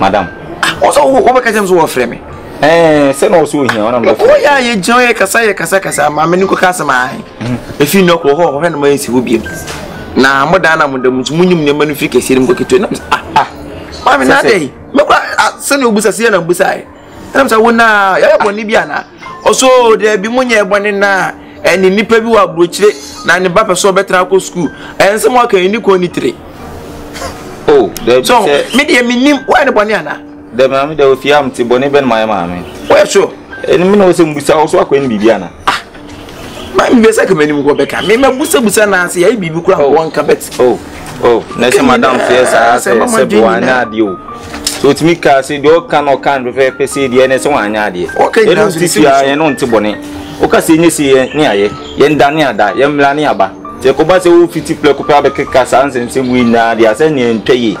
madam. ɔsɛ wobɛka kyɛm so wɔfrɛ me sɛ na ɔsɛ ohia ɔnam dɛ ɔyɛ a yɛgyina yɛ kasa yɛ kasa kasa ma me ne kɔka asɛm ae ɛfiri mhm. nnɛ korɔ hɔ ɔhwɛ no ma ɛnsi hɔ biam na modaa na moda mu so monyim nneɛma no firi kɛseɛ no mu kɔketewa nam ah, ah. maame na adɛn mɛkora ah, sɛnea wobusa seɛ na mbusaeɛ Ɛnam sɛ wo naa yɛyɛ bɔne bi anaa? Ɔsɛ o daabi mo nyɛ bɔne naa ɛne nnipa bi wɔ aburokyire na ne ba pɛ sɛ ɔbɛtra akɔ sukuu ɛyɛ nsɛm ɔka yi ne kɔn ne tire. O daabi sɛ. So me deɛ me nim wɔyɛ ne bɔne anaa? Daabi maame deɛ ofie a mte bɔne bɛn mayɛ maame. Wɔyɛ so. Ɛne me na ɔsɛ mbusa ɔso akɔyɛ ne biribi anaa? Ah, maa mi bɛ sɛ kɛmɛ ni mu kɔ bɛ ka mi ma busabusa na se yɛ biribi kura oh. wɔn ka bɛ ti. Oh, oh, na sɛ madam fiyɛ saa sɛ sɛ bi wɔn anya adeɛ o so tumi ka se deɛ ɔka na ɔka no fɛfɛɛfɛ se deɛ ɛnɛ sɛ wɔn anya adeɛ yɛn no ti fia yɛn no nti bɔne ɔka se nye se yɛn ne ayɛ yɛn da ne ada yɛn mmira ne aba sɛ kɔba sɛ wɔfiti pɛrɛko pɛ abɛkeka saa nsɛmsɛm wei nyinaa deɛ asɛ neɛ ntwa yie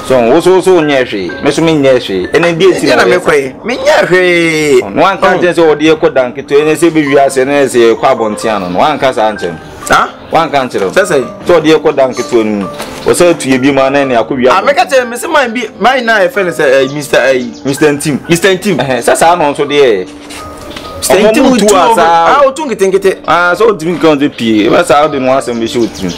so wo so so nyɛ hwee me so menyɛ hwee ɛne deɛ nti na mekɔɛ menyɛ hwee no anka nkyɛn sɛ wɔde yɛkɔ da nketewa ne sɛ bɛwie ase ne sɛ yɛkɔ abɔntea no no wanka saa nkyɛn saa wanka nkyerɛ sɛ sɛ sɛ wɔde yɛkɔ da nketewa no mu wɔsɛ atu yɛ bi mu anɛ ne akɔ wia ameka ah, kyerɛ me sɛ man bi man na ɛfɛ no sɛ eh, mr eh, mr ntim mr ntim sɛ saa no nso deɛ sɛnti mu tu a saa a wotu nketenkete aa sɛ wotumi nka ɔde pie ɛbɛ saa wode mo asɛm bɛhyɛ wotirim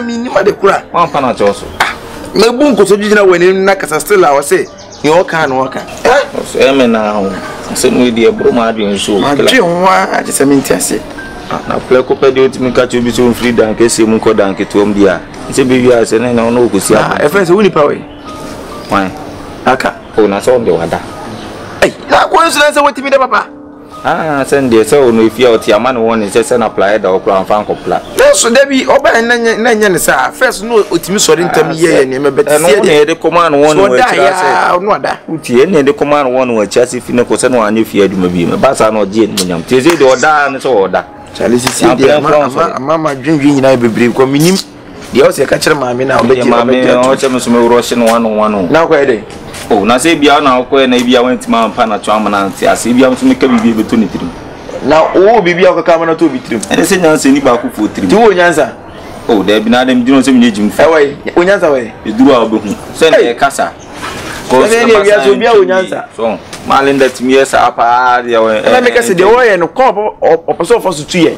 menima de kora wampa no akyɛw so mabu nkoso gyigyina wɔ anim na kasa still a ɔse deɛ ɔka na ɔka ɛmɛ na ho sɛ mu ɛdi ɛboro ma adwene so adwe ho a te sɛ mente ase na plɛ kɔpɛ deɛ wotumi ka kyɛ obi sɛ ɔmfiri dankeseɛ mu nkɔ danketeɔm bi a sɛ bɛwie a sɛ ne na ɔne ɔkɔsi a ɛfrɛ sɛ wo nipa wei Why? Aka. Oh, na sɛ ɔde wada. Ei, na akɔ nsira sɛ watumi dɛ papa. Ah, sɛ ndeɛ sɛ ɔno efi a ɔte ama ne wɔn ne sɛ sɛ na pla ɛda ɔkora nfa nkɔ pla. Nanso da bi ɔbɛn na nyɛ na nyɛ ne saa first no ɔtumi sɔre ntam yɛ yɛ nneɛma bɛte sɛ ɛno ne yɛde kɔma no wɔn ne wɔn akyira sɛ ɔno ada. Wotie ɛne yɛde kɔma no wɔn ne wɔn akyira sɛ fi ne kɔ sɛ na wɔanyɛ fie adwuma bi mu ba saa na ɔgye ɛnimu nyam tie sɛ deɛ ɔdaa ne sɛ ɔda. Kyale sisi deɛ ama ama ama dwendwen nyinaa bebree kɔ menim. Deɛ ɔsɛ ɛka kyerɛ maame na ɔbɛgye ɔbɛgye maame ɔkyɛ me so me worɔ hye no wano wano na ɔkɔyɛ dɛ o na sɛ ebia na ɔkɔyɛ na ebia wantumi ampa na to ama na ante ase ebia nso meka biribi ɛbɛtɔ ne tirim na wowɔ biribi a wokɔka ama no tɔ bi tirim ɛne sɛ nyansa ni baako foɔ tirim ti wowɔ nyansa o daabi na adɛm gyina sɛ menyɛ gyimfo ɛwɔ yi onyansa wɔ yi ɛduru a wobɛhu sɛ ne ɛkasa sɛdeɛ ne awia sɛ obi a onyansa so malinda tumi yɛ saa paa deɛ ɛna meka sɛ deɛ wɔyɛ no kɔ ɔpɛ sɛ ɔfa so tu yɛn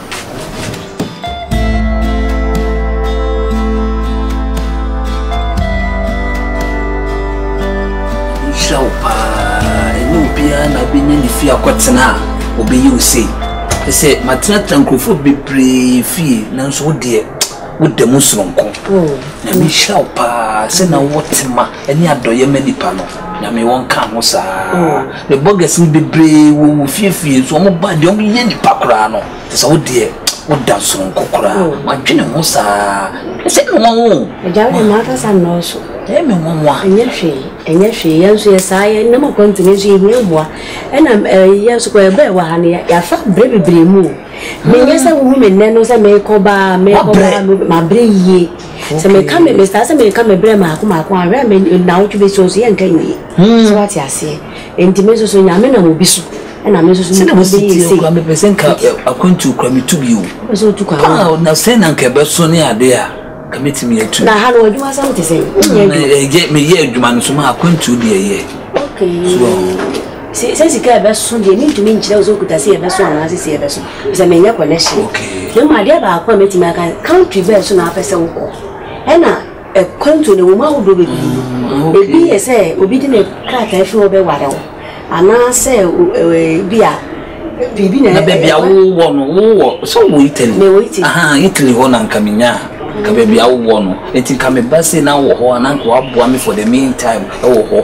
Nhyira wo paa. Ɛnyɛ obiara na wobɛnya ne fie akɔtena a ɔbɛyɛ wo sei. Ɛ sɛ matenatena nkurɔfoɔ bebree fie nanso wo deɛ woda mu soronko. Oh. Nyame nhyira wo paa sɛ na wowɔ tema ɛne adɔyɛ ma nipa no nyame wɔ nka ho saa me bɔgɛs no bebree wɔ wɔ fiefie nso wɔn ba deɛ wɔn yɛ nipa koraa no te sɛ wo deɛ woda soronko koraa mm. wadwene ho saa ɛsɛ me wɔn wo agya wo ma akasa nnɔɔso ɛyɛ me wɔn wa ɛnyɛ hwee ɛnyɛ hwee yɛn nso yɛ saa yɛ nam akɔntene nso yɛhia mmoa ɛna yɛn nso kɔ ɛbɛɛ wɔ ha no yɛafa berɛ bebree mu menyɛ sɛ wohu me nnɛ no sɛ merekɔ baa merekɔ baa mabrɛ yie Sɛ meka me metaa sɛ meka me brɛ maako maako a hwɛ me nnawɔtwe bɛsi hɔ so yɛnka nwie so wate aseɛ nti me nso so nyame nam obi so ɛna me nso so sɛnɛ wɔsi tie okura mepɛ sɛ nka akwantuo kura metu bio wopɛ sɛ wotu kwan ah na sɛ na nka ɛbɛso ne ade a ka mɛtumi atu na ha no adwuma sɛm te sɛ ɛyɛ meyɛ adwuma no so ma akwantuo deɛ yɛ okay sɛ sika ɛbɛso deɛ mentumi nkyerɛ wo sɛ okuta sɛ yɛbɛso anaasɛ sɛ yɛbɛso sɛ menyɛ connection na mmom adeɛ baako a mɛtumi aka country bɛɛ so na apɛ sɛ wokɔ ɛna ɛkwantuo no ɛwɔ mu ahodoɔ bebree ebi yɛ sɛ obi de ne krataa firi hɔ bɛware wo anaasɛ bi a biribi na baabi a wowɔ no wowɔ sɛ wowɔ Italy mewɔ Italy aha Italy hɔ na nka menya ka baabi a wowɔ no nti nka meba sei na wowɔ hɔ a na nka waboa me for the meantime ɛwɔ hɔ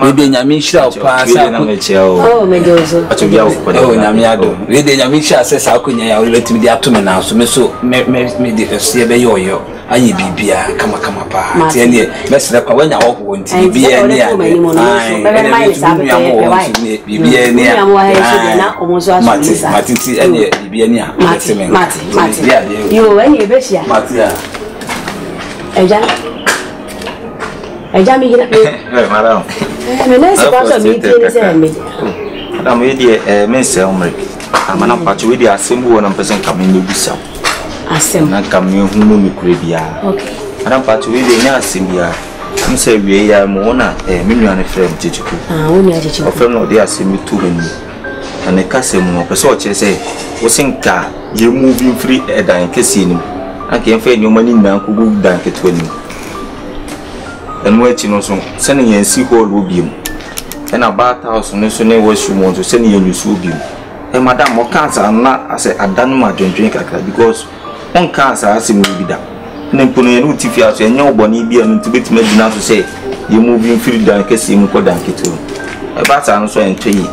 Wei deɛ nyame nhyira wo paa sɛ ako ɛwɔ nyame adom wei deɛ nyame nhyira sɛ saa akonya yi a wode bɛtumi de ato me nan so me so mede ɛseɛ bɛyɛ ɔyɔ ayɛ biribiaa kamakama paa nti ɛneɛ mɛserɛ kwa woanya hɔhoɔ nti biribiaa ni a nua mo wɔ nso neɛ biribiaa ni a mate mate nti ɛneɛ biribiaa ni a mɛse me nka mate a ɛgya Agya me gyina. Hey, madam. Eh, me nan si kwa so me tie ne sɛ me. Madam, we deɛ eh me nsɛ omre. Amana mm. pacho we deɛ asɛm bi wɔ na mpɛ sɛ nka me ne bisa. Asɛm. Na nka me hu mu no kure bia. Okay. Madam pacho we deɛ nya asɛm bia. Mo sɛ wie ya mo na eh me nua ne frɛ me chichiku. Ah, wo nua chichiku. Ofrɛ no de asɛm bi tu me ni. Na ne kasa mu no, ɔpɛ sɛ ɔkyerɛ sɛ wose nka yɛmmuvi mfiri dan kɛseɛ no mu, na nka yɛmfa yɛn nneɛma no nyinaa nkɔgu dan ketewa no mu. Ɛno akyi no nso, sɛ ne yɛnsi hɔl hɔ biom, ɛna bath house no nso ne washroom hɔ nso sɛ ne yɛnwusu hɔ biom. Ɛ madam, ɔkaa saa no na asɛ ada no mu adwendwene kakra because Wonkaa saa asɛm yi bi da. Na mpo no yɛne wo te fie ara so, ɛnyɛ wo bɔne biara no nti wobɛtumi agyina so sɛ yɛn mu bi mfiri dan kɛseɛ mu kɔ dan ketewa mu. Ɛba saa no nso a, ɛntɔ yie.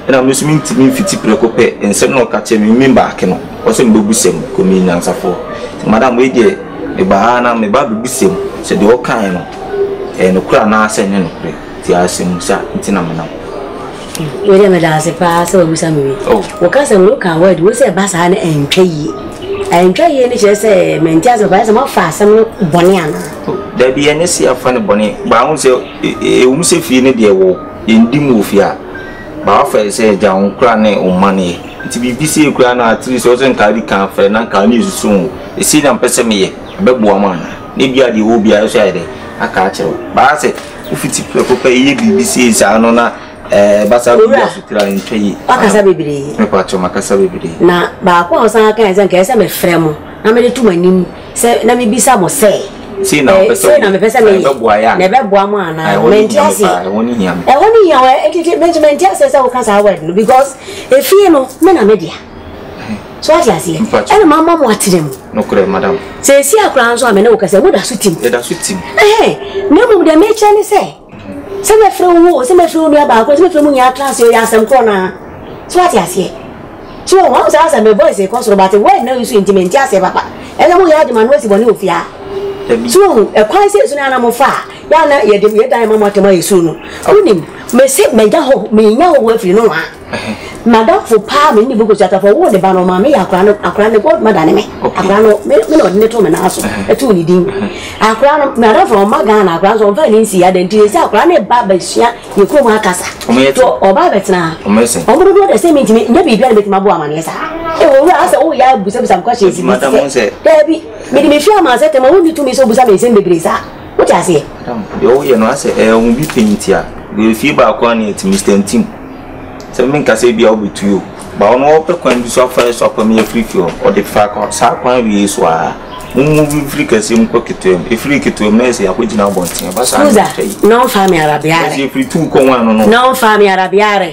Ɛna me nso mentumi mfiti prɛko pɛ nsɛm no a ɔka kyerɛ me me baake no, ɔwɔ sɛ mebɛbu sɛm kɔ meyɛ nyansafoɔ. Nti madam wei deɛ mebaa ha na meba abɛbu sɛm sɛ deɛ ɔkaeɛ no ɛyɛ nokorɛ anaa sɛ ɛnyɛ nokorɛ. Te asɛmmisa nti na menam. Wei deɛ meda ase paa sɛ wabisa me wei. Oh. Wo ka sɛ wo ka word wei sɛ ɛba saa no ɛntwa yie. Ɛntwa yie no kyerɛ sɛ mente ase papa ayɛ sɛ moafa asɛm no bɔne anaa? Oh, dabi ɛnyɛ sɛ yɛafa no bɔne baa ho sɛ ɛwom sɛ fie no deɛ wɔ yɛndi mu wɔ fie a baa wafa yɛ sɛ agya wo kora ne wo mma no yɛ nti biribi sɛ kura no atiri sɛ wo sɛ nkaa bi ka afɛ na nkaa ne ɛsusu ho ɛsei na mpɛ sɛ meyɛ ɛbɛboa ma anaa na ebia deɛ wɔ biara so ayɛ dɛ aka akyerɛ wo baa sɛ Wofiti prɛko pɛ yɛ biribi sei saa no na ɛɛ eh, basa bi asotere a ɛntwa yie. Wakasa bebree. Mepatɔ makasa bebree. Na baako a ɔsan aka sɛ nka ɛsɛ mefrɛ mo na mede to mo anim sɛ na mebisa mo sɛ sei na mepɛ sɛ meyɛ na ɛbɛboa mo anaa mɛnte ase ɛhɔ ne hia me ɛhɔ ne hia me ɛtete mɛnte ase sɛ woka saa word no because efie no me na me dea so ɔte aseɛ ɛna maa ma mo atena mu nokorɛ madam sɛsi akoraa nso a me ne wo kɛsɛ mo da so tim yɛda so tim ɛhɛn na mmom deɛ mekyɛ ne sɛ sɛ mɛfrɛ wo o sɛ mɛfrɛ wo nua baako sɛ mɛfrɛ mu nyinaa tra ase ɔyɛ asɛm korɔ naa so ɔte aseɛ so wɔn wɔn sɛ asɛ me voice kɔ soro bate word na nso nti mente aseɛ papa ɛna mo yɛ adema no asi bɔne ofia so wɔn ɛkwan sɛ esu na ana mo fa yɛ ana yɛde yɛdan ma mo atɛm ayɛ suru no wonim mese mɛnya hɔ menya hɔ wɔ afiri no wa M'adamfo paa me ne Bogo Kyatafo a ɔwoo ne ba no, ɔmaa meyɛ akwadaa no, akwadaa no, ne godmother ne me. Akwadaa no, me na ɔde no too me nan so, too ne din. Akwadaa no, m'adamfo no, ɔmma Ghana, akwadaa nso ɔmfa ne nsi adan nti, sɛ akwadaa no reba abɛsua yɛ kurom ha kasa. To ɔba abɛtena ha. Ɔmo dodoɔ deɛ sɛ mentumi nyɛ biribi a na mɛtumi abɔ amaneɛ saa. Ewu owura ha sɛ woyɛ abusabusam questions bi sɛ, daabi, mede me fie ama sɛ tɛma wonni tumi sɛ obusa me nsɛm bebree saa. Wote aseɛ? Madam, deɛ woyɛ no asɛ ɛyɛ wo bi pɛn nti a, deɛ efie baako a na ɛte Mr. Ntim. Sɛ menka sɛ ebia wobɛtui o, ba ɔno ɔpɛ kwan bi so afa so apam yɛ afiri fie hɔ. Ɔde fa saa kwan wei so ara. Mo move mfiri kɛseɛ mu kɔ ketewa mu. Efiri ketewa mu na ɛsɛ yɛakɔgyina abɔnten. Ɛba saa na ɛtwa yi. Suza, na ɔmfaa me ara biara. Ɛsɛ yɛfiri tuu kɔ one no no. Na ɔmfaa me ara biara.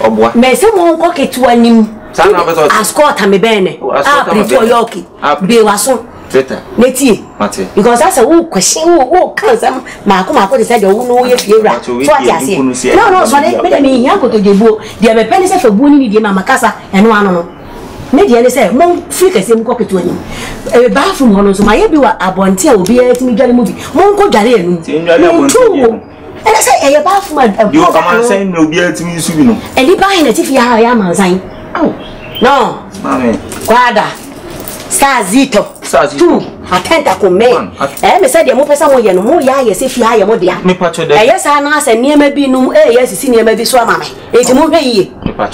ɔboa. Mese mo nkɔ ketewa nim. Saa na ɔpɛ sɛ ɔte. Asukɔ ɔtame bɛn ne. Asukɔ ɔtame bɛn ne. A ɔyɛ ɔke. Bie waso. Teta. Ne tie. Mate. Because asɛ wo kwasi wo wo ka nsɛm maako maako te sɛ deɛ wo no woyɛ fie wura. So ate aseɛ. Na ɔno ɔsɔre me deɛ menhia nkotodwe buo. Deɛ mepɛ ne sɛ fa buo ne ne die ma makasa ɛno ano no. Me deɛ ne sɛ mo firi kɛseɛ mu kɔ ketewa nim. Ɛyɛ bathroom hɔ no nso mayɛ bi wɔ abɔnten a obiara tumi dware mu bi. Monkɔ dware anum. Mentu wo. ɛna sɛ ɛyɛ baa fom a ɛkɔ deɛ ɔmansan na obiara tumi nsu bi no ɛni baa hena tifi ha ɔyɛ amansan no kwada sazito tu atɛnta ko mɛ ɛyɛ me sɛ deɛ mopɛ sɛ moyɛ no moyɛ ayɛ sɛ fie ha yɛ mo dea ɛyɛ saa na asɛ nneɛma bi nom ɛyɛ asisi nneɛma bi so ama me enti mohwɛ yiye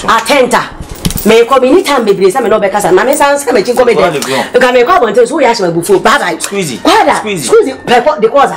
atɛnta mekɔ me ni tam bebree sɛ me na ɔbɛkasa na me san sɛ mɛkyi nkɔ me dɛm nka mekɔ abɔnten so woyɛ ahyɛ mabufuo bye bye kwada squeezy pɛkɔ de kɔza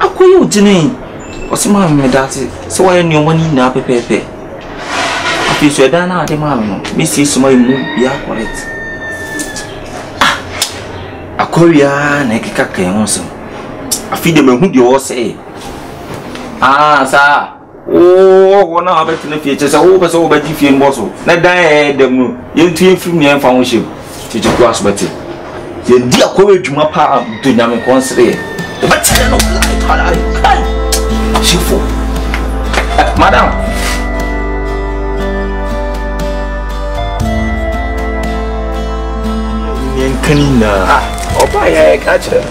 Akɔyɛ ɔtini. Ɔsi maame me da ase sɛ wayɛ nnoɔma no nyinaa pɛpɛɛpɛ. Afei nso ɛdan no a wode maa me no, mɛsiesie mayɛ mu biaa correct. Ah! Akɔre ara na ɛkeka ka yɛn ho nsɛm. Afei deɛ mahu deɛ ɔresɛe. Ah saa! Wowɔ hɔ na wabɛtena fie, kyerɛ sɛ wopɛ sɛ wobɛgye fie no bɔ so na dan a ɛyɛ dɛm no yɛntu yɛmfiri mu yɛmfa ho hyɛm tete koa so bɛte yɛdi akɔyɛ adwuma paa to nyame kɔn sereɛ wobɛkyerɛ no hyefo madam yɛnka ne nyinaa ɔba yɛ ɛka kyerɛ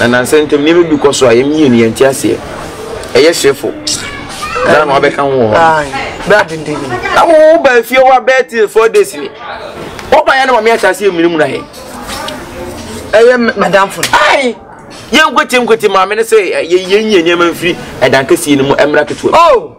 na nnansa ntam nneɛma bi kɔ so a yɛn mmienu yɛnte aseɛ. Ɛyɛ hyefo. Dan na wabɛka ho wɔ hɔ. Na wo wo baa fie hɔ abɛɛ till four days ni. Wɔba yɛ na wɔn ahyɛ aseɛ mmiri mu na yɛ. Ɛyɛ madam fo. Ayi yɛn nkwete nkwete maame no sɛ yɛn yɛn nyɛ nneɛma mfiri ɛdan kɛseɛ no mu ɛmra ketewa. Oh.